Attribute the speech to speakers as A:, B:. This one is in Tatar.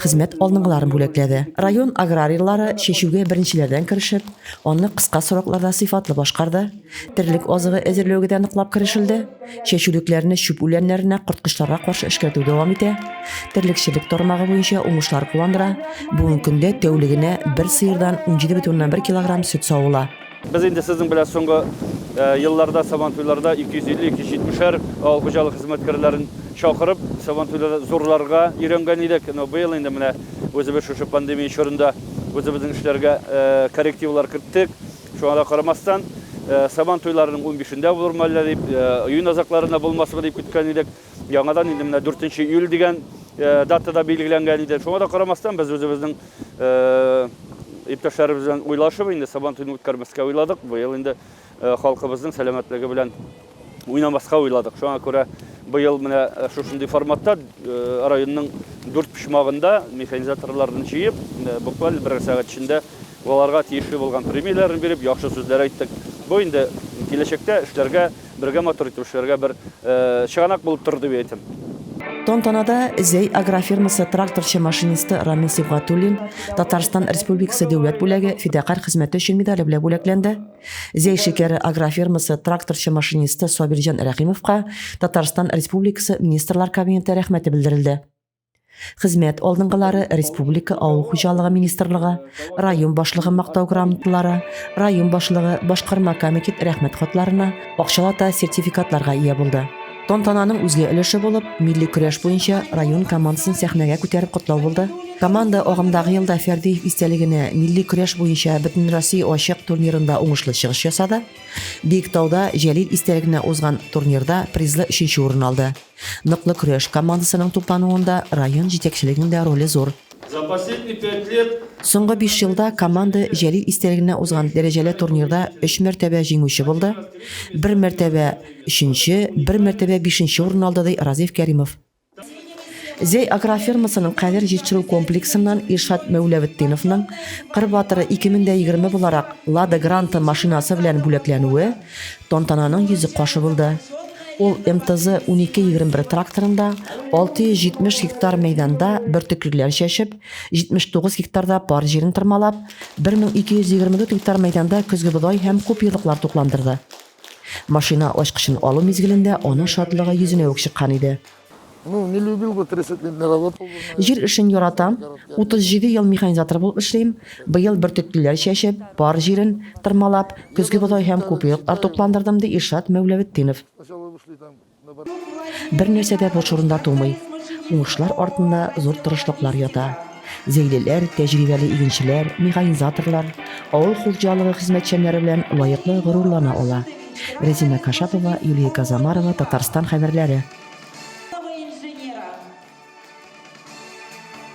A: хезмәт алныгыларын бүләкләде. Район аграрийлары чәчүгә беренчеләрдән керешеп, аны кыска срокларда сыйфатлы башкарды. Терлек азыгы әзерләүгә дә ныклап керешелде. Чәчүлекләрне чүп үләннәренә корткычларга каршы эшкәртү дәвам итә. Терлекчелек тармагы буенча уңышлар куандыра. Бүгенге көндә тәүлегенә бер сыердан 17,1 килограмм сөт савыла. Без инде сезнең
B: белән соңгы елларда сабантуйларда 250-270-әр авыл хуҗалык хезмәткәрләрен чакырып, сабантуйларда зурларга өйрәнгән идек. Но быел инде менә үзебез шушы пандемия чорында үзебезнең эшләргә коррективлар керттек. Шуңа да карамастан, сабантуйларның унбишендә булырмы әллә дип, июнь азакларында булмасмы дип көткән идек. Яңадан инде менә 4 нче июль дигән датада билгеләнгән иде. Шуңа да карамастан без үзебезнең иптәшләребез белән уйлашып инде Сабан туен үткәрмәскә уйладык. Быел инде халкыбызның сәламәтлеге белән уйнамаска уйладык. Шуңа күрә быел менә шушындый форматта районның дүрт почмагында механизаторларны җыеп, буквально бер сәгать эчендә Аларга тиешле булган премияләрен биреп, яхшы сүзләр әйттек. Бу инде киләчәктә эшләргә, бергә матур итеп эшләргә бер чыганак булып торыр дип әйтәм. Тантанада
A: Зәй агрофирмасы тракторчы машинисты Рамил Сибгатуллин Татарстан Республикасы Дәүләт бүләге фидакарь хезмәте өчен медале белән бүләкләнде. Зәй шикәре агрофирмасы тракторчы машинисты Сабирҗан Рәхимовка Татарстан Республикасы Министрлар Кабинеты рәхмәте белдерелде. Хезмәт алдынгылары республика авыл хуҗалыгы министрлыгы, район башлыгы мактау грамоталары, район башлыгы, башкарма комитет рәхмәт хатларына, акчалата сертификатларга ия булды. Тантананың үзге өлеше булып, милли көрәш буенча район командасын сәхнәгә күтәреп котлау булды. Команда агымдагы елда Фәрдиев истәлегенә милли көрәш буенча Бөтенроссия ачык турнирында уңышлы чыгыш ясады. Биектауда Җәлил истәлегенә узган турнирда призлы өченче урын алды. Ныклы көрәш командасының туплануында район җитәкчелегенең дә роле зур. За последние
B: пять лет. Соңгы биш елда
A: команда Җәлил истәлегенә узган дәрәҗәле турнирда өч мәртәбә җиңүче булды, бер мәртәбә, өченче, бер мәртәбә бишенче урын алды, ди Разиф Кәримов. Зәй агрофермасының кадәр җитештерү комплексыннан Илшат Мәүләветдиновның Кыр батыры 2020 буларак Лада Гранта машинасы белән бүләкләнүе, Тантананың йөзе кашы булды. Ул МТЗ 1221 тракторында 670 гектар мәйданда бөртеклеләр чәчеп, 79 гектарда пар җирен тырмалап, 1224 гектар мәйданда көзге бодай һәм куперлыклар тукландырды. Машина ачкычын алу мизгелендә аның шатлыгы йөзенә үк чыккан иде.
C: Җир эшен яратам.
A: 37 ел механизатор булып эшлим. Быел бөртеклеләр чәчеп, пар җирен тырмалап, көзге бодай һәм купееклар тукландырдым, ди Илшат Мәүләветдинов. Бернәрсә дә буш урында тумый. Уңышлар артында зур тырышлыклар ята. Зәйлеләр, тәҗрибәле игенчеләр, механизаторлар, авыл хуҗалыгы хезмәтчәннәре белән лаеклы горурлана ала. Рәзимә Кашапова, Юлия Казамарова, Татарстан хәбәрләре.